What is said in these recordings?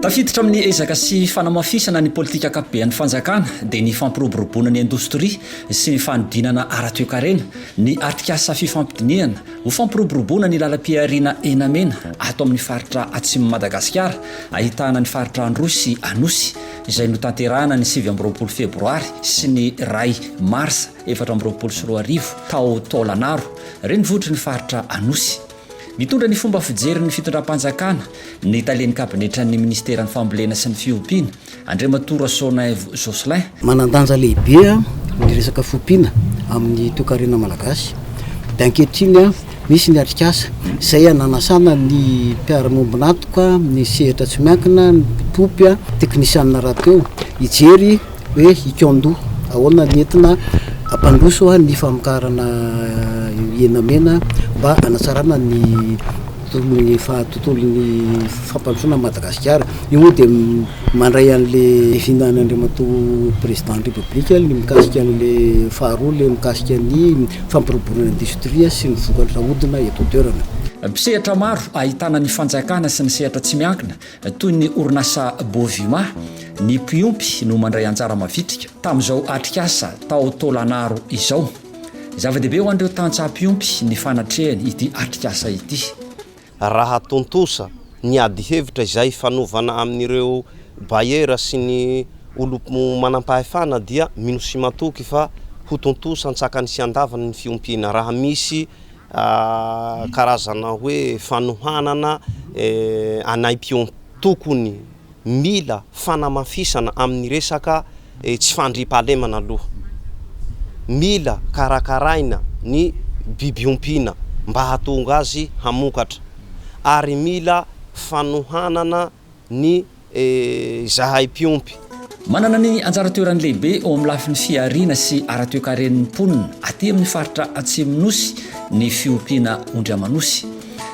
Tafiditra amin'ny ezaka sy fanamafisana ny politika ankapobean'ny fanjakana dia ny fampiroboroboana ny indostria sy ny fanodinana ara-toekarena ny atrikasa fifampidinihana ho fampiroboroboana ny lalam-pihariana henamena ato amin'ny faritra Atsimon'i Madagasikara ahitana ny faritra Androy sy Anosy izay notanterahana ny sivy amby roapolo febroary sy ny iray marsa efatra amby roapolo sy roa arivo tao Taolagnaro, renivohitry ny faritra Anosy. Mitondra ny fomba fijerin'ny fitondram-panjakana ny talen'ny kabinetran'ny minisiteran'ny Fambolena sy ny fiompiana, Andriamatoa Rasoanaivo Jocelyn. Manan-danja lehibe ny resaka fiompiana amin'ny toekarena malagasy. Dia ankehitriny Nisy ny atrikasa izay nanasana ny mpiara-miombon'antoka amin'ny sehatra tsy miankina, ny mpitopy, teknisianina rahateo, hijery hoe i Kyondo ahoana ny entina hampandroso ny famokarana hena mena mba hanatsarana ny tontolon'ny fampandrosoana an'i Madagasikara. Io moa dia. Mandray an'le hihinana Andriamatoa Président ny République le mikasika an'le faharoa le mikasika ny fampiroboroana ny industrie sy ny vokatra ahodina eto an-toerana. Mpisehatra maro ahitana ny fanjakana sy ny sehatra tsy miankina toy ny orinasa Bovima, ny mpiompy no mandray anjara mavitrika tamin'izao atrikasa tao Tôlanaro izao. Zava-dehibe ho an'ireo tantsaha mpiompy ny fanatrehany ity atrikasa ity. Raha tontosa ny adihevitra izay hifanovana amin'ireo Bayer sy ny olom-manampahefana dia mino sy matoky fa ho tontosa an-tsakany sy an-davany ny fiompiana raha misy karazana hoe fanohanana anay mpiompy tokony Mila fanamafisana amin'ny resaka tsy fandriampahalemana aloha. Mila karakaraina ny biby ompiana mba hahatonga azy hamokatra ary mila fanohanana ny zahay mpiompy. Manana ny anjara toerany lehibe eo amin'ny lafiny fihariana sy ara-toekaren'ny mponina aty amin'ny faritra Atsimon'Osy ny fiompiana ondry aman'osy.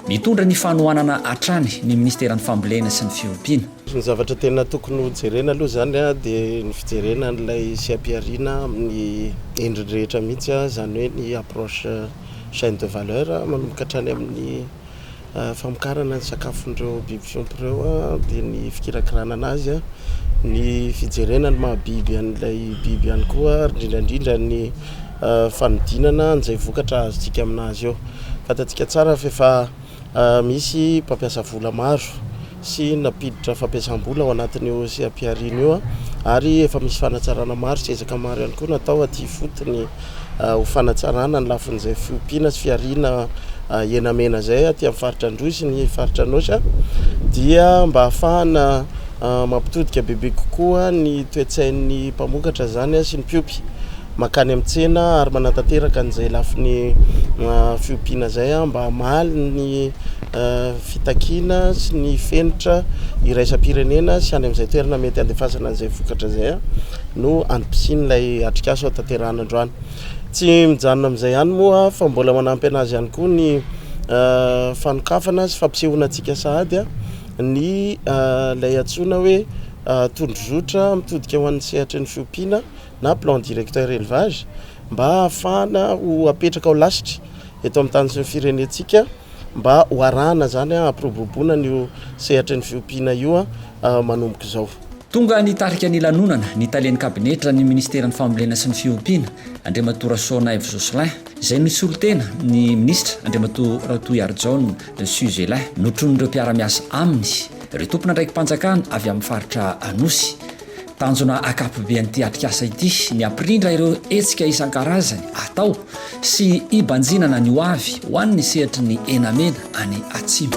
Mitondra ny fanohanana hatrany ny Ministeran'ny Fambolena sy ny Fiompiana. Ny zavatra tena tokony ho jerena aloha izany dia ny fijerena an'ilay sy ampiharina amin'ny endriny rehetra mihitsy izany hoe ny approche chaine de valeur manomboka hatrany amin'ny famokarana ny sakafon'ireo biby fiompy ireo dia ny fikirakirana an'azy, ny fijerena ny maha biby an'ilay biby ihany koa ary indrindra indrindra ny fanodinana an'izay vokatra azontsika amin'azy eo. Fantatsika tsara fa efa misy mpampiasa vola maro sy nampiditra fampiasam-bola ao anatin'io seha-pihariana io ary efa misy fanatsarana maro sy ezaka maro ihany koa natao aty ifotony ho fanatsarana ny lafin'izay fiompiana sy fihariana hena mena izay aty amin'ny faritra Androy sy ny faritra Anôsy dia mba hahafahana mampitodika bebe kokoa ny toe-tsain'ny mpamokatra izany sy ny mpiompy. mankany amin'ny tsena ary manatanteraka an'izay lafiny fiompiana izay mba hamaly ny fitakiana sy ny fenitra iraisam-pirenena sy any amin'izay toerana mety handefasana an'izay vokatra izay no andipisian'ilay atrikasa ao tanterahana androany tsy mijanona amin'izay ihany moa fa mbola manampy an'azy ihany koa ny fanokafana sy fampisehoana antsika sahady ny ilay antsoina hoe tondrozotra mitodika ho an'ny sehatry ny fiompiana na plan directeur élevage mba hahafahana ho apetraka ao lasitra eto amin'ny tany sy ny firenentsika mba ho arahana izany hampiroboroboana an'io sehatry ny fiompiana io manomboka izao. Tonga nitarika ny lanonana ny talen'ny kabinetra ny minisiteran'ny fambolena sy ny fiompiana, Andriamatoa Rasoanaivo Jocelyn, izay nisolo tena ny minisitra, Andriamatoa Ratohiharijaona Suzelin. Notronin'ireo mpiara-miasa aminy ireo tompon'andraiki-panjakana avy amin'ny faritra Anosy. Tanjona ankapoben'ity atrikasa ity ny hampirindra ireo hetsika isan-karazany atao sy hibanjinana ny hoavy ho an'ny sehatry ny henamena any Atsimo.